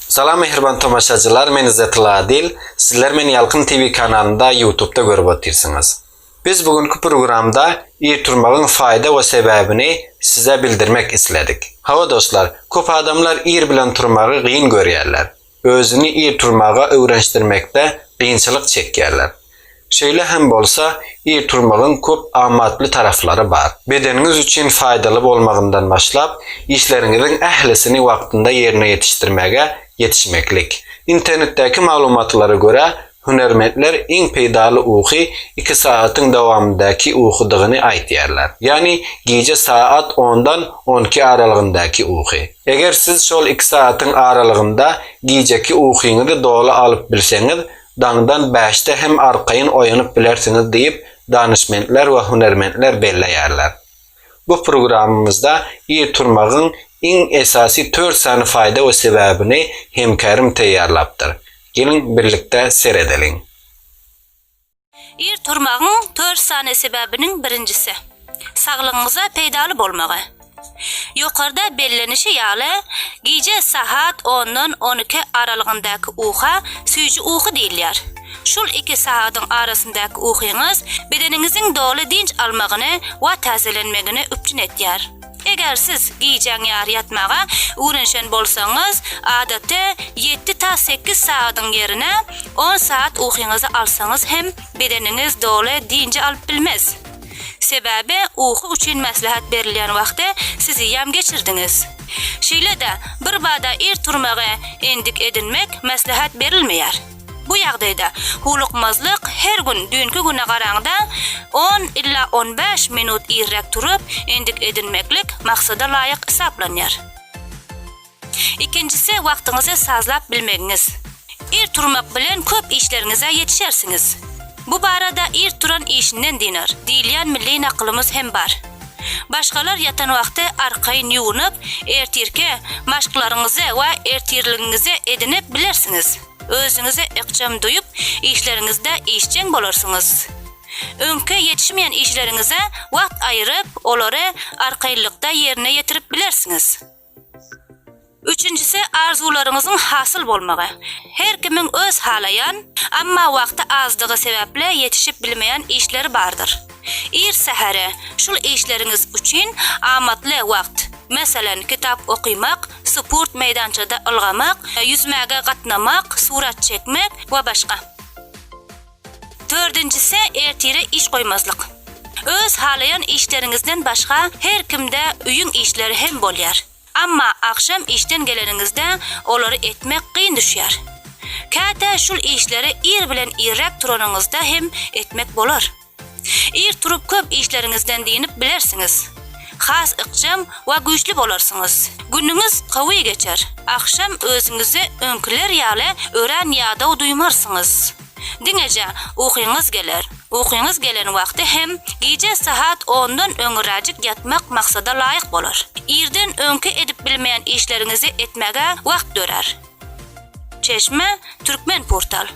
Salam mähriban tomaşaçylar men Izetilla Adil sizler meni Ýalkym TV kanalynda ýutubda görüp otyrsyňyz. Biz bu günki programda ir turmagyň faýda we sebäbini size bildirmek isledik. Hawa dostlar köp adamlar ir bilen turmagy gyn görýärler. Özüni ir turmaga öwrenşdirmekde gynçylyk çekýärler. Şeýle hem bolsa, ir turmagyň köp amatly taraplary bar. Bedeniňiz üçin faýdaly bolmagyndan başlap, işleriňiziň ählisini wagtynda ýerine ýetişdirmäge ýetişmeklik. Internetdäki maglumatlara görä, hünärmentler iň peýdaly uky iki sagatyň dowamyndaky ukydygyny aýtýarlar, ýagny gije saat ondan on iki aralygyndaky uky. Eger siz şol iki sagatyň aralygynda gijeki ukyňyzy doly alyp bilseňiz, daňdan bäşde hem arkaýyn oýanyp bilersiňiz diýip, danyşmentler we hünärmentler belleýärler. Bu programmamyzda ir turmagyň iň esasy tört sany faýda we sebäbini hemkärim taýýarlapdyr. Geliň, birlikde seredeliň. Ir turmagyň tört sany sebäbiniň birinjisi, saglygyňyza peýdaly bolmagy. Ýokarda bellenişi ýaly, gije sahat ondan on iki aralygyndaky uka süýji uky diýilýär. Şul iki sagadyň arasyndaky ukyňyz bedeniňiziň doly dynç almagyny we täzelenmegini üpjün etýär. Eger siz gijäň ýary ýatmaga ugrenşen bolsaňyz, adatda ýedi ta sekiz sagadyň ýerine on sagat ukyňyzy alsaňyz hem bedeniňiz doly dynjy alyp bilmez. Sebäbi uky üçin maslahat berilýän wagty siz ýam geçirdiňiz. Şeýle-de, birbada ir turmagy endik edinmek maslahat berilmeýär. Bu ýagdaýda howlukmazlyk her gün düýnki güne garaňda on ila on bäş minut irräk turup endik edinmeklik maksada laýyk hesaplanýar. Ikinjisi wagtyňyzy sazlap bilmegiňiz. Ir turmak bilen köp işleriňize ýetişersiňiz. Bu barada Ir turan işinden dynar diýilýän milli nakylymyz hem bar. Başgalar ýatan wagty arkaýyn ýuwunyp, ertirki maşklaryňyzy we ertirligiňizi edinip bilersiňiz. Özüňizi ykjam duýup, işleriňizde işjeň bolarsyňyz. Öňki ýetişmeýän işleriňize wagt aýyryp, olary arkaýynlykda ýerine ýetirip bilersiňiz. Üçünjisi, arzuwlaryňyzyň hasyl bolmagy. Her kimiň öz halaýan, emma wagty azdygy sebäpli ýetişip bilmeýän işleri bardyr. Ir sähere, şul işleriňiz üçin amatly wagt, meselem, kitap okymak, sport meýdançada ylgamak, ýüzmäge gatnamak, surat çekmek we başga. Dördünjisi, ertire iş goýmazlyk. Öz halaýan işleriňizden başga her kimde öýüň işleri hem bolýar. Amma agşam işden geleniňizde olary etmek kyn düşýär. Käte şul işleri ir bilen irräk turanyňyzda hem etmek bolar. Ir turup köp işleriňizden dynip bilersiňiz. Has ykjam we güýçli bolarsyňyz. Günüňiz gowy geçer. Agşam özüňizi öňkiler ýaly örän ýadaw duýmarsyňyz. Diňeje ukyňyz geler. Ukyňyz gelen wagty hem gije sahat ondan öňüräjik ýatmak maksada laýyk bolar. Irden öňki edip bilmeýän işleriňizi etmäge wagt dörär. Çeşme, Turkmenportal.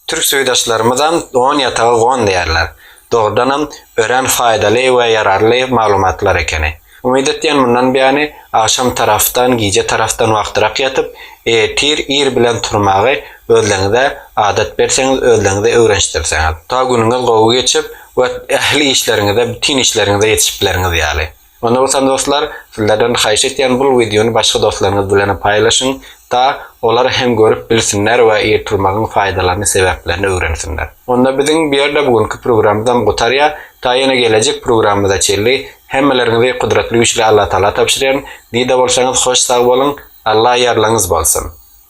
Türk suwdaşlarymyzam don ýatagy gon diýýärler. Dogrudanam, örän faýdaly we ýararly maglumatlar ekeni. Umyt etýän mundan beýany agşam tarapdan, gije tarapdan wagtyrak ýatyp, ertir ir bilen turmagy özleňize adat berseňiz, özleňize öwrenişdirseňiz. Ta günüňiz gowy geçip we ähli işleriňize, bütin işleriňize ýetişip bilerňiz ýaly. Onda bolsa dostlar, sizlerden haýyş etýän bul wideony başga dostlaryňyz bilenem paýlaşyň, ta olar hem görüp bilsinler we ir turmagyň faýdalaryny, sebäplerini öwrensinler. Onda biziň bu ýerde bu günki programmyzam gutarýar, ta ýene gelejek programmyza çenli Hemmeleriňizi Gudratly Güýçli Allatagala tabşyrýaryn. Dide bolsaňyz hoş sag boluň. Alla ýarlaňyz bolsun.